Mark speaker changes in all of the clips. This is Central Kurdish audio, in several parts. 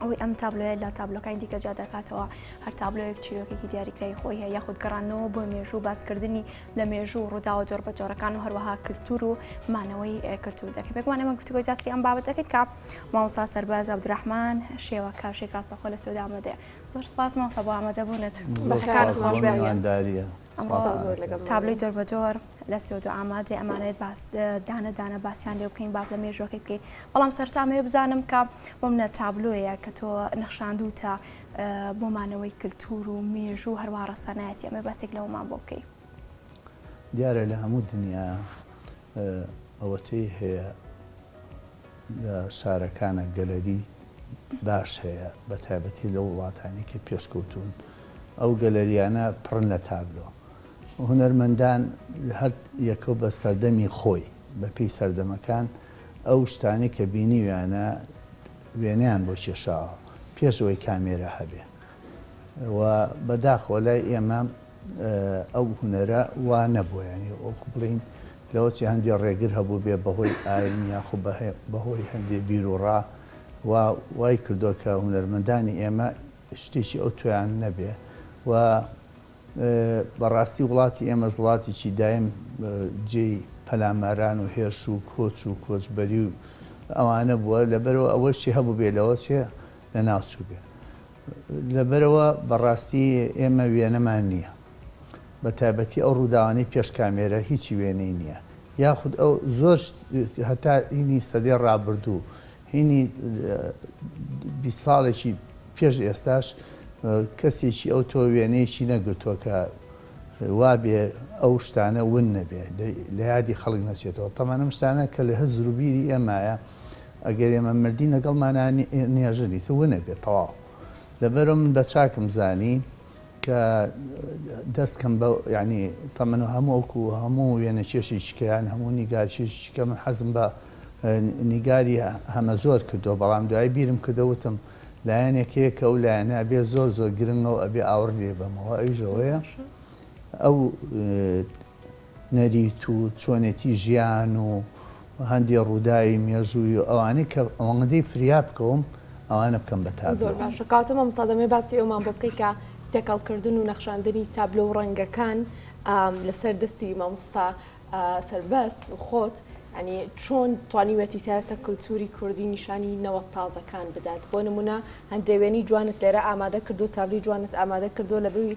Speaker 1: ئەوەی ئەم تابلۆیە لە تابلۆکانی دیکە جیا دەکاتەوە هەر تابلۆیەک چیرۆکێکی دیاریکراوی خۆی هەیە یاخود گەڕانەوە بۆ مێژوو و باسکردنی لە مێژوو و ڕووداوە جۆر بە جۆرەکان و هەروەها کلتور و مانەوەی ئه، کلتور دەکەین پێکمان ئێمە گفتوگۆی زیاتری ئەم بابەت دەکەین کە مامۆستا سەرباز عەبدولرەحمان شێوە کاشێک ڕاستەخۆ لە سوێد ئامادەیە زۆر سپاس مامۆستا بۆ ئامادەبوونت زۆر بەخێرهاتیت سپاس بۆ خۆشبێ میوانداریە سپاس زۆر لەگەڵ تابلۆی جۆر بە جۆر لە ستۆدیۆ ئامادەی ئەمانەوێت باس دانە دانە باسیان لێ بکەین باس لە مێژوەکەی بکەین بەڵام سەرتامەوێ بزانم کە بۆم نە تابلۆیە کە تۆ نەخشاندوتە بۆمانەوەی کللتور و مێژوو هەروە ڕەسەنایەتی ئەمە باسێک لەوەمان بۆ بکەی
Speaker 2: دیارە لە هەموو دنیا ئەوەتەی هەیە لە شارەکانە گەلەری باش هەیە بە تایبەتی لە وڵاتانی کە پێشکەوتون ئەو گەلەریانە پڕن لە تابلۆ هونەرمەندان هەر یەکە بە سەردەمی خۆی بە پێی سەردەمەکان ئەو شتانەی کە بینیویانە وێنەیان بۆ کێشاوە پێش ئەوەی کامێرا هەبێ و بە داخەوە لای ئێمە ئەو هونەرە وا نەبووە یانی وەکو بڵین لەوە چی هەندێ ڕێگر هەبوو بێ بەهۆی ئاین یاخو بەهۆی هەندێ بیرروڕا و وای کردووە کە هونەرمەندانی ئێمە شتێکی ئەو تویان نەبێ و بەڕاستی وڵاتی ئێمەش وڵاتێکی دایم جێی پەلاماران و هێرش و کۆچ و کۆچبەری و ئەوانە بووە، لەبەرەوە ئەوەشی هەبووبێ لەوە چێ لەناوچووبێ. لەبەرەوە بەڕاستی ئێمە وێنەمان نییە. بەتایبەتی ئەو ڕووداوانەی پێش کامێرە هیچی وێنەی نییە. یاخود ئەو زۆر شت هەتا ئینی سەدەی ڕابردوو هینی بیست ساڵێکی پێش ئێستاش کەسێکی ئەو تۆ وێنەیەکی نەگرتووە کە وابێ ئەو شتانە ون نەبێ لە یادی خەڵک نەچێتەوە تەمان ئەم شتانە کە لە هە زروبیری ئێمایە ئەگەر ئێمە مردین لەگەڵ مانان نێژەنی تە ونەبێت تەواو لەبەرم من بە چاکم زانی کە دەست کەم بە یانی تەمەن هەمووک و هەموو وێنەکێشێکی کە یان هەموو نیگارکێشێکی کە من حەزم بە نیگاری هەمەجۆر کردووە بەڵام دوایی بیرم کردە وتم لایەنێک هەیە کە ئەو لایەنە ئەبێ زۆر زۆر گرنگە و ئەبێ ئاوڕ لێ بەمەوە ئەویش ئەوەیە ئەو نەریت و چۆنێتی ژیان و هەندێ ڕووداوی مێژووی و ئەوانەی کە ئەوەندەی فریا بکەوم ئەوانە بکەم بە تابلۆ. زۆر باشە کاتە مامۆستا
Speaker 3: دەمەوێت باسی ئەومان بۆ بکەی کە تێکەڵکردن و نەخشاندنی تابلۆ و ڕەنگەکان لەسەر دەستی مامۆستا سەربەست و خۆت ینی چۆن توانیوێتی تاسە کللتوری کوردی نیشانی نەوە تازەکان بدات بۆ نمونە هەندێوێنی جوانت لێرە ئامادە کردو تابلی جوانت ئامادە کردو لە بروی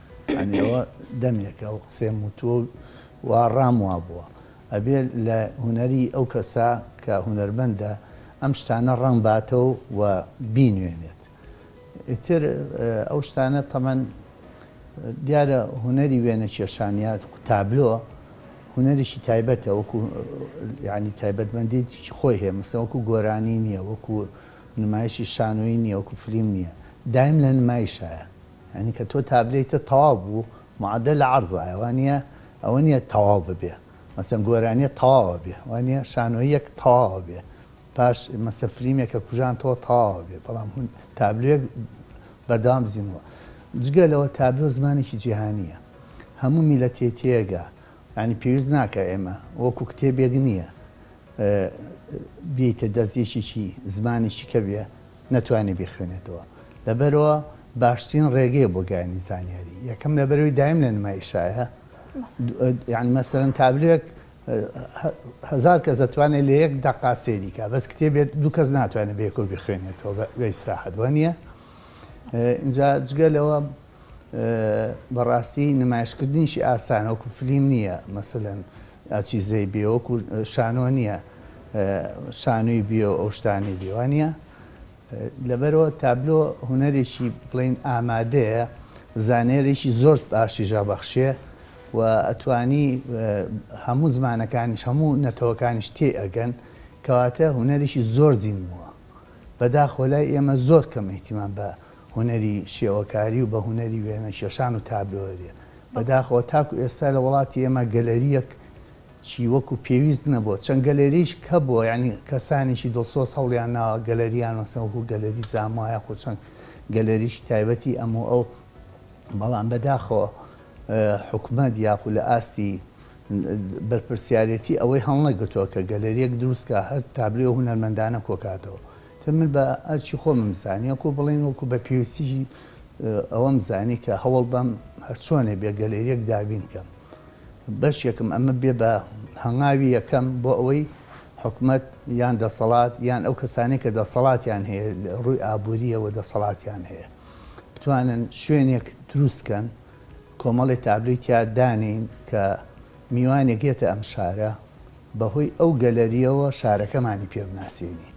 Speaker 2: یانی ئەوە دەمێکە ئەو قسەیەم وتووە و وا ڕام وابووە. ئەبێ لە هونەری ئەو کەسە کە هونەرمەندە ئەم شتانە ڕەنگ باتەوە و بینوێنێت. ئیتر ئەو شتانە تەمەن دیارە هونەری وێنە کێشان یا تابلۆ هونەرێکی تایبەتە وەکوو یانی تایبەتمەندێتیی خۆی هەیە مەسەن وەکوو گۆرانی نییە وەکوو نمایشی شانۆیی نییە وەکوو فلیم نییە دایم لە نمایشایە. یانی کە تۆ تابلێیتت تەواو بوو معدل عرضایە وانیە ئەوە نیە تەواو ببێ مەسەن گۆرانیە تەواوە بێ وانیە شانۆییەک تەواوە بێ پاش مەسە فلیمێک کە کوژانتەوە تەواوە بێ بەڵام هون تابلوێک بەردەوام بزینەوە جگە لەوە تابلۆ زمانێکی جیهانیە هەموو میلەتێ تێگا یانی پێویست ناکا ئێمە وەکو کتێبێک نییە بیەیتە دەست یەکێکی زمانێکی کە بێ نەتوانێ بیخوێنێتەوە لەبەرئەوە باشترین ڕێگەیە بۆ گەیانی زانیاری یەکەم لەبەرەوەی دایم لە نمای شایە یعنی مەسەرەن تابلێک هزار کەس دەتوانێت لە یەک دەقا سێریکە بەس کتێبێت دوو کەس ناتوانێت بێکۆ بخوێنێتەوە بە ئیسراحەت وە نییە اینجا جگە لەوە بەڕاستی نمایشکردنیشی ئاسانە وەکو فلیم نیە مەسەلەن ئاچیزەی بێ وەکو شانۆ نیە شانوی بێ و ئەو شتانەی بێ وانیە لەبەرەوە تابلۆ هونەرێکی بڵین ئامادەیە زانێرێکی زۆر باشی ژابەخشێ و ئەتوانی هەموو زمانەکانیش هەموو نەتەوەکانیش تێ ئەگەن کەواتە هونەرێکی زۆر زیندمووە بەداخۆ لای ئێمە زۆر کەم ئیهتیمام بە هونەری شێوەکاری و بە هونەری وێنە کێشان و تابلۆێ. بە داخەوە تاکو ئێستا لە وڵاتی ئێمە گەلەریەک چی وەکو پێویست نەبووە. چەند گەلەرییش کەبووە یانی کەسانێکی دڵسۆز هەوڵیان ناوە گەلەریان مەسەن وەکو گەلەری زاموا یاخو چەند گەلەریی تایبەتی ئەم و ئەو بەڵام بە داخەوە حکومەت یاخو لە ئاستی بەرپرسیارێتی ئەوەی هەڵنەگرتووە کە گەلەریەک دروست کا هەر تابلۆێ هونەرمەندانە کۆکاتەوە. تە من بە ئەرکی خۆمم زانی وەکو بڵێن وەکو بە پێویستیی ئەوەم زانی کە هەوڵ بەم هەر چۆنێ بێ گەلێریەک دابین کەم بەشێکم ئەمە بێ بە هەنگاوی یەکەم بۆ ئەوەی حکومەت یان دەسەڵات یان ئەو کەسانەی کە دەسەڵاتیان هەیە لە ڕووی ئابوورییەوە دەسەڵاتیان هەیە بتوانن شوێنێک دروست کەن کۆمەڵی تابلوی تیا دانین کە میوانێک یەتە ئەم شارە بەهۆی ئەو گەلەرییەوە شارەکەمانی پێ بناسێنی.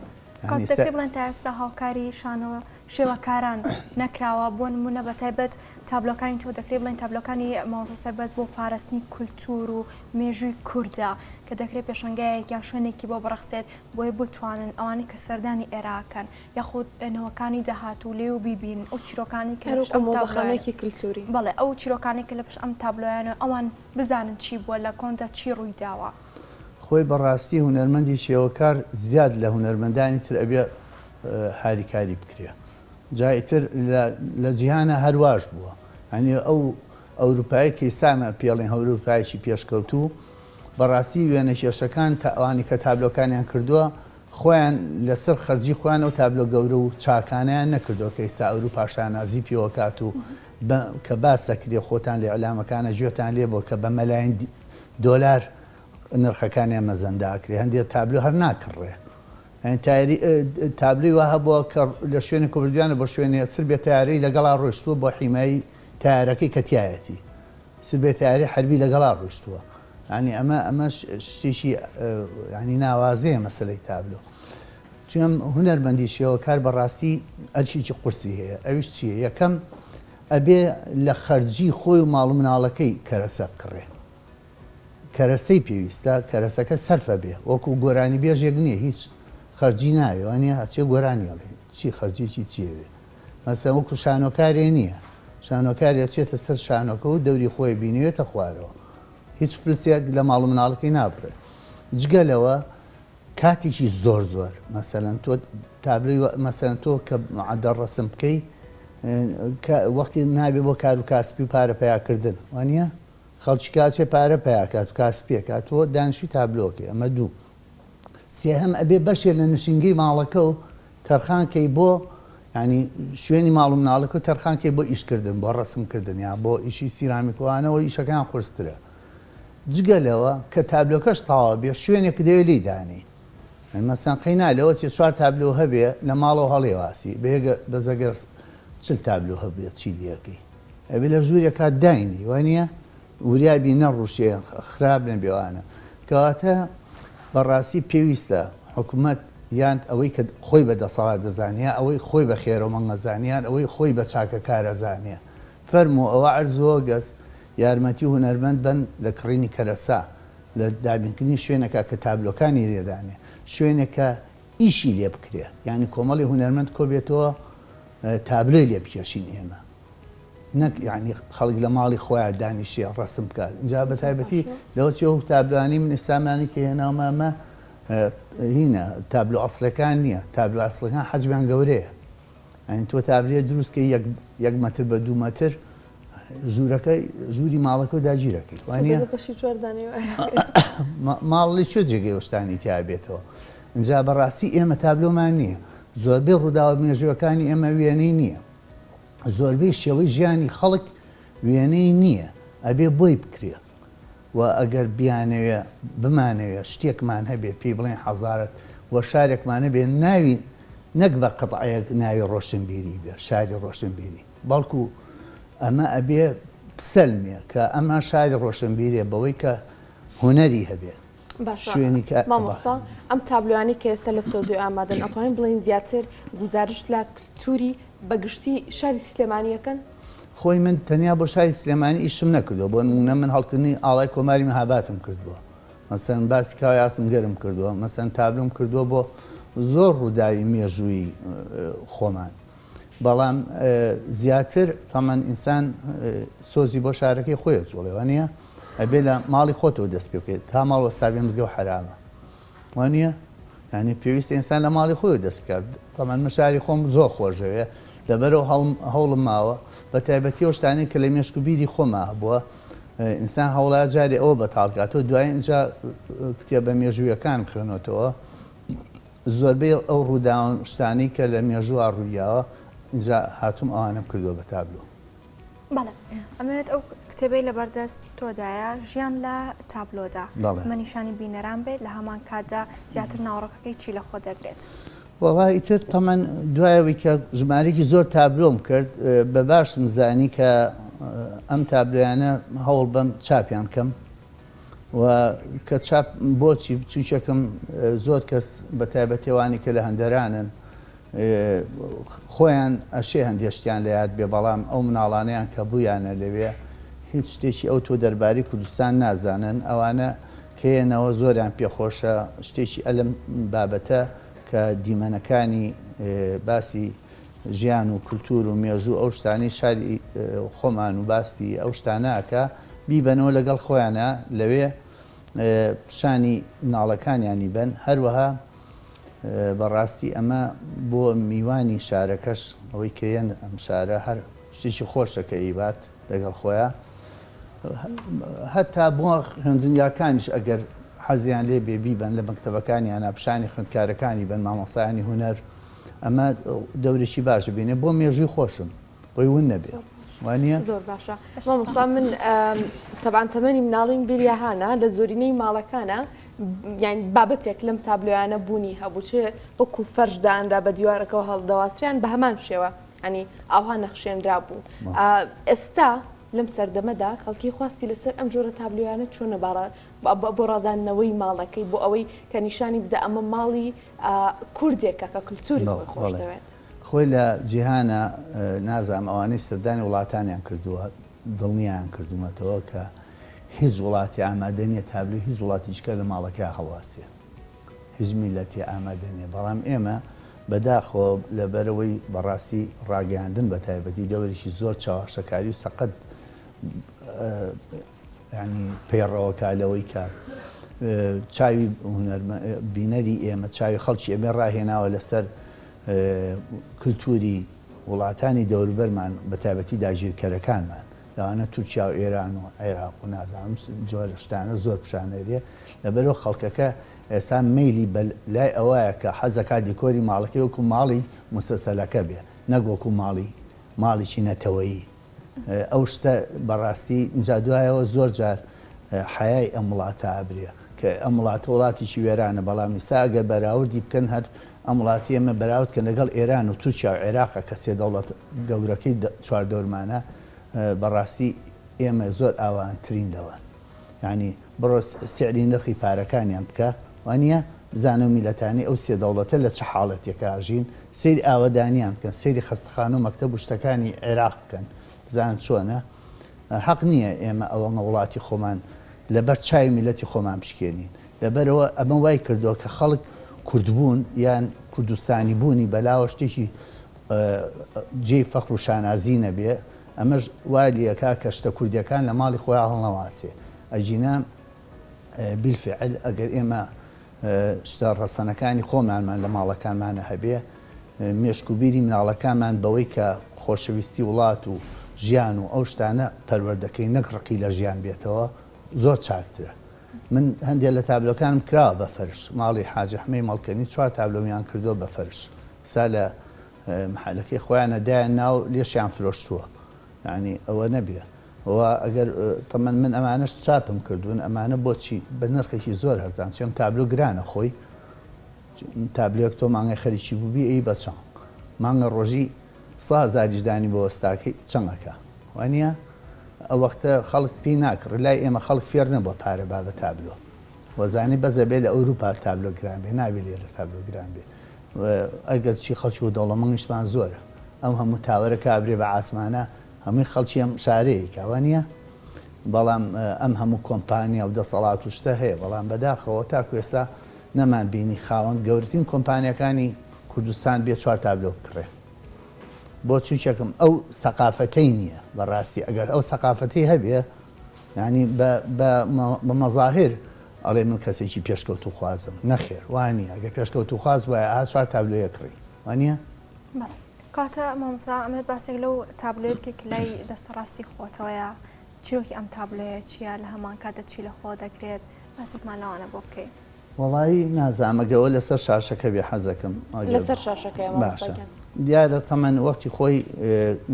Speaker 2: کاک دەکرێ بڵێن
Speaker 1: تا ئێستا هاوکاری شانۆ شێوەکاران نەکراوە بۆ نموونە بە تایبەت تابلۆکانی تۆ دەکرێ بڵێن تابلۆکانی مامۆستا سەربەست بۆ پاراستنی کولتوور و مێژووی کوردە کە دەکرێ پێشەنگایەک یان شوێنێکی بۆ بڕەخسێت بۆی بتوانن ئەوانەی کە سەردانی ئێرا ئەکەن یاخود نەوەکانی داهاتوو لێی و بیبینن ئەو چیرۆکانەی کە لە پشت ئەم تابلۆیانە. هەرو کە مۆزەخانەیەکی
Speaker 3: کلتووری. بەڵێ ئەو چیرۆکانەی
Speaker 1: کە لە پشت ئەم تابلۆیانە ئەوان بزانن چی بووە لە کۆندا چی ڕووی داوە. خۆی
Speaker 2: بەڕاستی هونەرمەندی شێوەکار زیاد لە هونەرمەندانی تر ئەبێ هاریکاری بکرێ جا ئیتر لە جیهانا هەر واش بووە یانی ئەو ئەوروپایەک کە ئیسانا پێڵێن هەوروپایەکی پێشکەوتوو بەڕاستی وێنەکێشەکان تا ئەوانی کە تابلۆکانیان کردووە خۆیان لەسەر خەرجی خۆیان و تابلۆ گەورە و چاکانیان نەکردووە کە ئیستا ئەوروپا شانازی پێوەکات و بە کە باس دەکرێ خۆتان لە ئیعلامەکانە گوێتان لێ بووە کە بە مەلاین دۆلار نرخەکانیان مەزەندە ئەکرێ هەندێ تابلۆ هەر ناکڕڕێ یانی تایری تابلۆی وا هەبووە کە لە شوێنی کوردویانە بۆ شوێنێ سر بێ تارەی لەگەڵا ڕۆشتووە بۆ حیمایی تارەکەی کە تایەتی سر بێ تاری حربی لەگەڵا ڕۆشتووە ینی ئەمە ئەمە شتێکی ینی ناوازەیە مەسلەی تابلۆ چونم هونەرمەندی شێوەکار بەڕاستی ئەرکێکی قورسی هەیە ئەویش چیە یەکەم ئەبێ لە خەرجی خۆی و ماڵ و مناڵەکەی کەرەسە بکڕێ کەرەسەی پێویستە کەرەسەکە سەرفە بێ وەکو گۆرانی بێژێک نیە هیچ خەرجی ناوێ وانیە هەچێ گۆرانی ئەڵێ چی خەرجێکی چیەوێ مەسەن وەکو شانۆکارێ نیە شانۆکارێ چێتە سەر شانۆکە و دەوری خۆی بینوێتە خوارەوە هیچ فلسێک لە ماڵ و مناڵەکەی نابڕێ جگە لەوە کاتیکی زۆر زۆر مەسەلەن تۆ تابلۆی وە مەسەلەن تۆ کە معەدەڵ ڕەسم بکەی کە وەختی نابێ بۆ کار و کاسپی و پارە پیا کردن وانە خەڵکی کاچێ پارە پیا کات و کاسپیەکە تۆ دانشی تابلۆکەی ئەمە دوو سێهەم ئەبێ بەشێ لە نشینگەی ماڵەکە و تەرخانکەی بۆ ینی شوێنی ماڵ و مناڵەکە و تەرخانکەی بۆ ئیشکردن بۆ ڕسمکردن یا بۆ ئیشی سیرامیکوانەوە ئیشەکان قرسترە جگە لەوە کە تابلۆکەش تەواو بێ شوێنێک دەوێ لێی دانێی یانی مەسەن قەینا لەوە چیە چوار تابلۆ هەبێ لە ماڵەوە هەڵێواسی بەیەگە بەس ئەگەر چل تابلۆ هەبێت چی لێکەی ئەبێ لە ژوورێکا داینێی وانیە وریا بی نەڕوشێ خراپ نەبێ وانە کەواتە بەڕاستی پێویستە حکومەت یان ئەوەی کە خۆی بە دەسەڵات دەزانێ یا ئەوەی خۆی بە خێرەومەنگ ئەزانێ یان ئەوەی خۆی بە چاکەکار ئەزانێ فەرموو ئەوە عەرزۆ گەز یارمەتی هونەرمەند بەن لە کڕینی کەرەسە، لە دابینکردنی شوێنەکە کە تابلۆکانی لێ دانێ، شوێنێک کە ئیشی لێ بکرێ، یانی کۆمەڵی هونەرمەند کۆ بێتەوە تابلۆی لێ بکێشین ئێمە، نەک یانی خەڵک لە ماڵی خۆیان دانیشێ ڕەسم بکا، جا بە تایبەتی لەوە چی ئەو تابلۆیانەی من ئێستامانی کە هێناومە ئەمە هینە تابلۆ ئەسڵەکان نییە، تابلۆ ئەسڵەکان حەجمیان گەورەیە، یانی تۆ تابلۆیەک دروست کەی یەک مەتر بە دوو مەتر، ژوورەکە ژووری ماڵەکە و داگیرەکەی وانە ماڵی چێ جێگەی وەشتانی تیابێتەوە اینجا بەڕاستی ئێمە تابلۆمان نییە زۆربەی ڕووداوە مێژوەکانی ئێمە وێنەی نییە زۆربەی شێوەی ژیانی خەڵک وێنەی نییە ئەبێ بۆی بکرێ و ئەگەر بیانەوێ بمانەوێ شتێکمان هەبێ پێی بڵێن حەزارت و شارێکمانە بێ ناوی نەک بە قەتعەیەک ناوی ڕۆشنبیری بێ شاری ڕۆشنبیری بەڵکو ئەمە ئەبێ بسەلمێ کە ئەمە شاری ڕۆشنبیرێ بەوەی کە هونەری هەبێ باشە شوێنی کە مامۆستا
Speaker 3: ئەم تابلۆیانەی کە ئێستا لە سۆدۆی ئامادەن ئەتوانین بڵێین زیاتر گوزارشت لە کلتوری بەگشتی شاری سلێمانیەکەن خۆی من
Speaker 2: تەنیا بۆ شاری سلێمانی ئیشم نەکردووە بۆ نمونە من هەڵکردنی ئاڵای کۆماری مەهاباتم کردووە مەسەن باسی کاوی ئاسنگەرم کردووە مەسەن تابلۆم کردووە بۆ زۆر ڕووداوی مێژووی خۆمان بەڵام زیاتر تەمەن ئینسان سۆزی بۆ شارەکەی خۆی ئەجوڵێ وانیە ئەبێ لە ماڵی خۆتەوە دەست پێ بکەیت تا ماڵ وەستا بێ مزگەو حەرامە وانیە یعنی پێویست ئینسان لە ماڵی خۆی دەست بکات تەمەن من شاری خۆم زۆر خۆشەوێ لەبەرەوە هەڵم هەوڵم ماوە بە تایبەتی ئەو شتانەی کە لە مێشک و بیری خۆما هەبووە ئینسان هەوڵا جارێ ئەوە بەتاڵکاتەوە دوای اینجا کتێبە مێژوویەکان بخوێنەوەتەوە زۆربەی ئەو ڕووداوەن شتانەی کە لە مێژووا ڕوویاوە ئینجا هاتووم ئەوانم کردووە بە تابلۆ.
Speaker 1: بەڵێ ئەمەوێت ئەو کتێبەی لەبەر دەست تۆدایە ژیان لە تابلۆدا بە نیشانی بینەران بێت لە هەمان کاتدا زیاتر ناوەڕۆکەکەی چی لە خۆ دەگرێت؟ وەڵا ئیتر
Speaker 2: تەمەن دوایەوەی کە ژمارێکی زۆر تابلۆم کرد بە باشم زانی کە ئەم تابلۆیانە هەوڵ بەم چاپیان کەم و کە چاپ بۆچی بچوکێکم زۆر کەس بە تایبەتی ئەوانی کە لە هەندەرانن خۆیان ئەشێ هەندێ شتیان لە یاد بێ بەڵام ئەو مناڵانەیان کە بوویانە لەوێ هیچ شتێکی ئەو تۆ دەرباری کوردستان نازانن ئەوانە کەێنەوە زۆریان پێخۆشە شتێکی ئەلم بابەتە کە دیمەنەکانی باسی ژیان و کلتور و مێژوو ئەو شتانەی شاری خۆمان و باسی ئەو شتانە ئەکا بیبەنەوە لەگەڵ خۆیانا لەوێ پیشانی مناڵەکانیانی بەن هەروەها بەڕاستی ئەمە بۆ میوانی شارەکەش ئەوەی کەێن ئەم شارە هەر شتێکی خۆشەکە ئیبات لەگەڵ خۆیە هەتا بۆ خوێندنگاکانیش ئەگەر حەزیان لێ بێ بیبن لە مەکتتەبەکانیانە پیشانی خوندکارەکانی بن مامۆسایانی هوەر ئەمە دەورێکی باش بینێ بۆ مێژووی خۆشم بۆی ون نەبێ وانە زۆر باشە
Speaker 3: مامۆستا من تەبان تەمەنی مناڵیم بیریاهانە لە زۆرینەی ماڵەکانە یان بابەتێک لەم تابلۆیانە بوونی هەبوو چ وەکو فەرشدانرا بە دیوارەکەەوە هەڵدەواسریان بە هەمان شێوە ئەنی ئاها نەخشێنرا بوو ئێستا لەم سەردەمەدا خەڵکی خواستی لەسەر ئەم جۆرە تابلویانە چۆنە باڕە بۆ ڕازاندنەوەی ماڵەکەی بۆ ئەوەی کە نیشانی بدە ئەمە ماڵی کوردێکە کە کلتوری خۆی خۆش دەوێت. خۆی لە
Speaker 2: جیهانە نازانم ئەوانەی سەردانی وڵاتانیان کردووە دڵنیایان کردوومەتەوە کە هیچ وڵاتی ئامادە نیە تابلۆی هیچ وڵاتی جکە لە ماڵەکەیا هەڵواسێ هیچ میلەتی ئامادە نیە بەڵام ئێمە بەداخەوە لەبەرئەوەی بەڕاستی ڕاگەیاندن بەتایبەتی دەوەرێکی زۆر چەواشەکاری و سەقەت یانی پەیڕەوەکە لەوەی کە چاوی بینەری ئێمە چاوی خەڵکی ئەمێ ڕاهێناوە لەسەر کللتوری وڵاتانی دەوربەرمان بە تایبەتی داگیرکەرەکانمان لەوانە تورکیا و ئێران و عێراق و نازانم جۆرە شتانە زۆر پیشانەرێ لەبەرەوە خەڵکەکە ئێستا میلی بە لای ئەوەیە کە حەزەکە دیکۆری ماڵەکەی وەکو ماڵی مسەسەلەکە بێ نەگۆکو ماڵی ماڵێکی نەتەوەیی ئەو شتە بەڕاستی جا دوایەوە زۆر جار حەیای ئەم وڵاتە ئەبرێ کە ئەم وڵاتە وڵاتیکی وێرانە بەڵام ئیستا ئەگەر بەراوردی بکەن هەر ئەم وڵاتی ئێمە بەراورد کەن لەگەڵ ئێران و تورکیا و عێراقە کە سێ دەوڵەت گەورەکەی چواردەورمانە بەڕاستی ئێمە زۆر ئاوانترین لەوان یانی بڕۆ سیعری نرخی پارەکانیان بکە وانیە بزانە میلەتانی ئەو سێ دەوڵەتە لە چ حاڵەتێکا ئەژین سەیری ئاوەدانیان بکەن سەیری خەستەخانەو مەکتەب و شتەکانی عێراق بکەن بزانن چۆنە هەق نیە ئێمە ئەوەنە وڵاتی خۆمان لەبەر چاوی میلەتی خۆمان بشکێنین لەبەرئەوە ئەمە وای کردوە کە خەڵک کوردبوون یان کوردستانی بوونی بەلاوە شتێکی جێی فەخرو شانازی نەبێ ئەمەش وای لێکا کە شتە کوردیەکان لە ماڵی خۆیان هەڵنەواسێ ئەگینا بیلفعل ئەگەر ئێمە شتە ڕەسەنەکانی خۆمانمان لە ماڵەکانمانە هەبێ مێشک و بیری مناڵەکانمان بەوەی کە خۆشەویستی وڵات و ژیان و ئەو شتانە پەروەردەکەی نەک ڕقی لە ژیان بێتەوە زۆر چاکترە من هەندێک لە تابلۆکانم کراوە بە فەرش ماڵی حاجەحمەی مەڵکەنی چوار تابلۆمیان کردووە بە فەرش سا لە محەلەکەی خۆیانە دایە ناو لێشیان فرۆشتووە یانی ئەوە نەبیە و ئەگەر تەمەن من ئەمانەش چاپم کردوون ئەمانە بۆچی بە نرخێکی زۆر هەرزان چێم تابلو گرانە خۆی تابلێک تۆ مانگای خەریکی بووبی ئەی بە چەند مانگە ڕۆژی سا هەزاریش دانی بۆ وەستاکەی چەندەکە وانە ئەو وەختە خەڵک پێی ناکڕی لای ئێمە خەڵک فێر نەبووە پارە با بە تابلۆ وەزانی بەس ئەبێ لە ئەوروپا تابلۆ گران بێ نابێ لێرە تابلۆ گران بێ ئەگەر چی خەڵکی و دەوڵەمەنگیشمان زۆرە ئەم هەموو تاوەرە کا ئەبرێ بە عاسمانە هەمووی خەڵکی ئەم شارەیە کا وا نیە بەڵام ئەم هەموو کۆمپانیا و دەسەڵات و شتە هەیە بەڵام بەداخەوە تاکو ئێستا نەمان بینی خاوەن گەورەترین کۆمپانیاکانی کوردستان بێ چوار تابلۆ بکڕێ بۆ چونکەکم ئەو سەقافەتەی نییە بەڕاستی ئەگەر ئەو سەقافەتەی هەبێ یانی بە بە بە مەزاهر ئەڵێ من کەسێکی پێشکەوتووخوازم، نەخێر وا نییە، گەر پێشکەوتووخواز بوایە ئەها چوار تابلۆیە کڕی، وا نییە؟ بەڵێ.
Speaker 1: کەواتە مامۆستا ئەمەوێت باسێک لەو تابلۆیە بکەیت کە لای دەستە ڕاستی خۆتەوەیە، چیرۆکی ئەم تابلۆیە چییە، لە هەمانکاتدا چی لە خۆ دەگرێت، باسێکمان لەوانە بۆ بکەی. وەڵایی
Speaker 2: نازامە گەوە لەسەر شاشەکە بێ حەزەکەم لەسەر شاشەکەی
Speaker 3: باشە
Speaker 2: دیارە تەمەن وەختی خۆی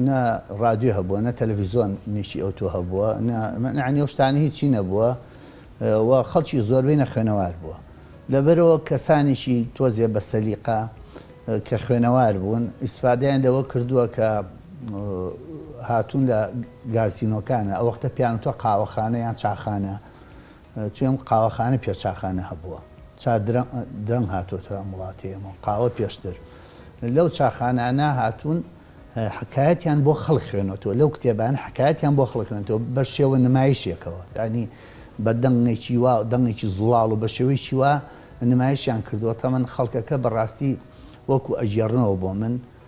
Speaker 2: نە ڕادیو هەبووە نە تەلەڤیزۆن نیشی ئەو تۆ هەبووە نەعنی ئەو شتانی هیچی نەبووە و خەڵکی زۆربەی نەخوێنەوار بووە لەبەرەوە کەسانێکی تۆزێ بە سەلیقا کە خوێنەوار بوون ئیسفادیان لەوە کردووە کە هاتوون لە گازینۆکانە ئەو وەختە پیانتۆ قاوەخانە یان چاخانە چویم قاوەخانە پێ چاخانە هەبووە چا درەنگ هاتۆتە ئەم وڵاتی ئێمە و قاوە پێشتر لەو چاخانانە هاتوون حکایەتیان بۆ خەڵک خوێنەوە لەو کتێبان حکایەتیان بۆ خەڵک خوێنەوە بە شێوە نمایشێکەوە ینی بە دەنگێکی وا دەنگێکی زوڵاڵ و بە شێوەیەکی وا نمایشیان کردووە تەمەن خەڵکەکە بەڕاستی وەکو ئەگێڕنەوە بۆ من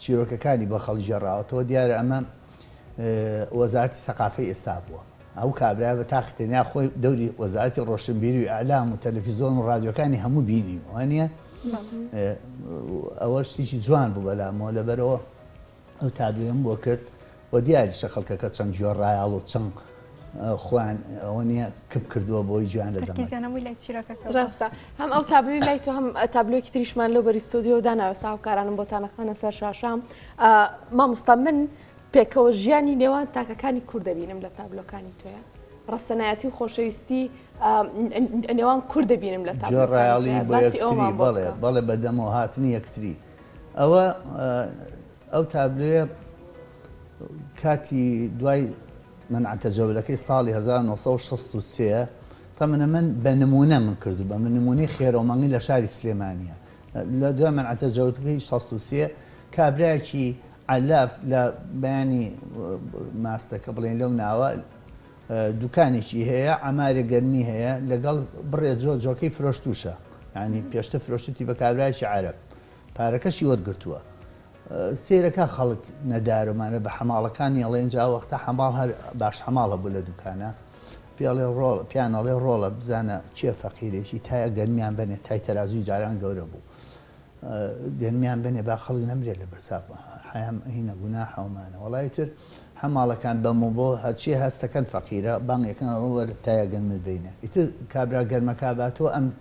Speaker 2: چیرۆکەکانی بۆ خەڵک گێڕاوەتەوە، دیارە ئەمە وەزارەتی سەقافەی ئێستا بووە، ئەو کابرایە بە تاقی تەنیا خۆی دەوری وەزارەتی ڕۆشنبیری و ئیعلام و تەلەفیزۆن و ڕادیۆکانی هەموو بینی، وانییە؟ ئەوە شتێکی جوان بوو بەلامەوە، لەبەرئەوە ئەو تابلۆیەم بۆ کرد، و دیاریشە خەڵکەکە چەند جوێ ڕایاڵ و چەند خۆیان ئەوە نییە کپ کردووە بۆی جوێیان لە دەمەکە. تەرکیزیان هەمووی لای چیرۆکەکە بووە.
Speaker 3: ڕاستە. هەم ئەو تابلۆی لای تۆ هەم تابلۆیەکی تریشمان لەو بەری ستۆدیۆوە داناوە ئێستا هاوکارانم بۆتان ئەخەنە سەر شاشە. مامۆستا من پێکەوە ژیانی نێوان تاکەکانی کورد دەبینم لە تابلۆکانی تۆیا. ڕەسەنایەتی و خۆشەویستی نێوان کورد دەبینم لە تابلۆکانی تۆیا. جوێ ڕایاڵی بۆ
Speaker 2: یەکتری بەڵێ بەڵێ بە دەمەوە هاتنی یەکتری ئەوە ئەو تابلۆیە کاتی دوای منع تجولەکەی ساڵی هەزار و نۆ سەد و شەست و سێ تەمنە من بە نموونە من کردو بە من نموونەی خێرەو مەنگی لە شاری سلێمانیە لە دوای منع تجولەکەی شەست و سێ کابرایەکی عەلاف لە بەیانی ماستەکە بڵێن لەو ناوە دوکانێکی هەیە ئەمارێ گەرمی هەیە لەگەڵ بڕێ جۆ جۆکەی فرۆشتوشە ینی پێشتە فرۆشتی بە کابراایکی عرب پارەکەشی وەرگرتووە سەیرەکە خەڵک نەدارمانە بە حەماڵەکانی ئەڵێ ئینجا وەختە حەماڵ هەر باش حەماڵ هەبوو لە دوکانە پێڵێ ڕۆڵ پیان ئەڵێ ڕۆڵە بزانە کێ فەقیرێکی تایە گەنمیان بنێ تای تەرازوی جاران گەورە بوو گەنمیان بنێ با خەڵک نەمرێت لە بەرساپ حەیام هینە گونا حەومانە وڵی تر حەماڵەکان بەم و بۆ هەرچی هەستەکەن فەقیرە بانگەکەن ڕوەر تایە گەنمت بینە ئیتر کابرا گەرمەکە باتەوە ئەم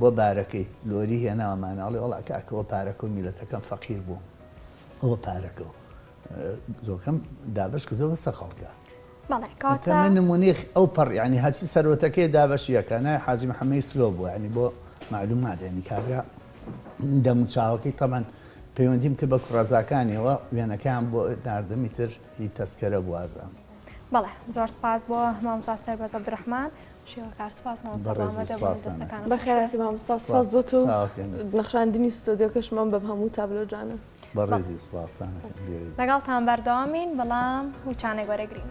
Speaker 2: بۆ بارەکەی لۆری هێناومانە ئەڵێ وەڵا کاکە وە پارەکە و میلەتەکەم فەقیر بوو وە پارەکە و زۆکەم دابەش کردو بەسە خەڵکە من نمونێخ ئەو پەڕ ینی هەچی سەرۆتەکەی دابەشیەکە نای حاجی محەممەی سلۆ بوو ینی بۆ معلومات ینی کابرا دەموچاوەکەی تەمان پەیوەندیم کرد بە کوڕەزاکانیەوە وێنەکەیان بۆ ناردەمی تر هی تەسکەرە بوازان. بەڵێ زۆر
Speaker 1: سپاس بۆ مامۆستا سەربەز عەبدولڕەحمان
Speaker 3: بەخێرهاتی مامۆستا سوپاس بۆ تۆ نەخشاندنی ستۆدیۆکەشمان بەم هەموو تابلۆ جوانە بەڕێزی
Speaker 1: سوپاستان لەگەڵتان بەردەوامین بەڵام وچانێک وەرەگرین.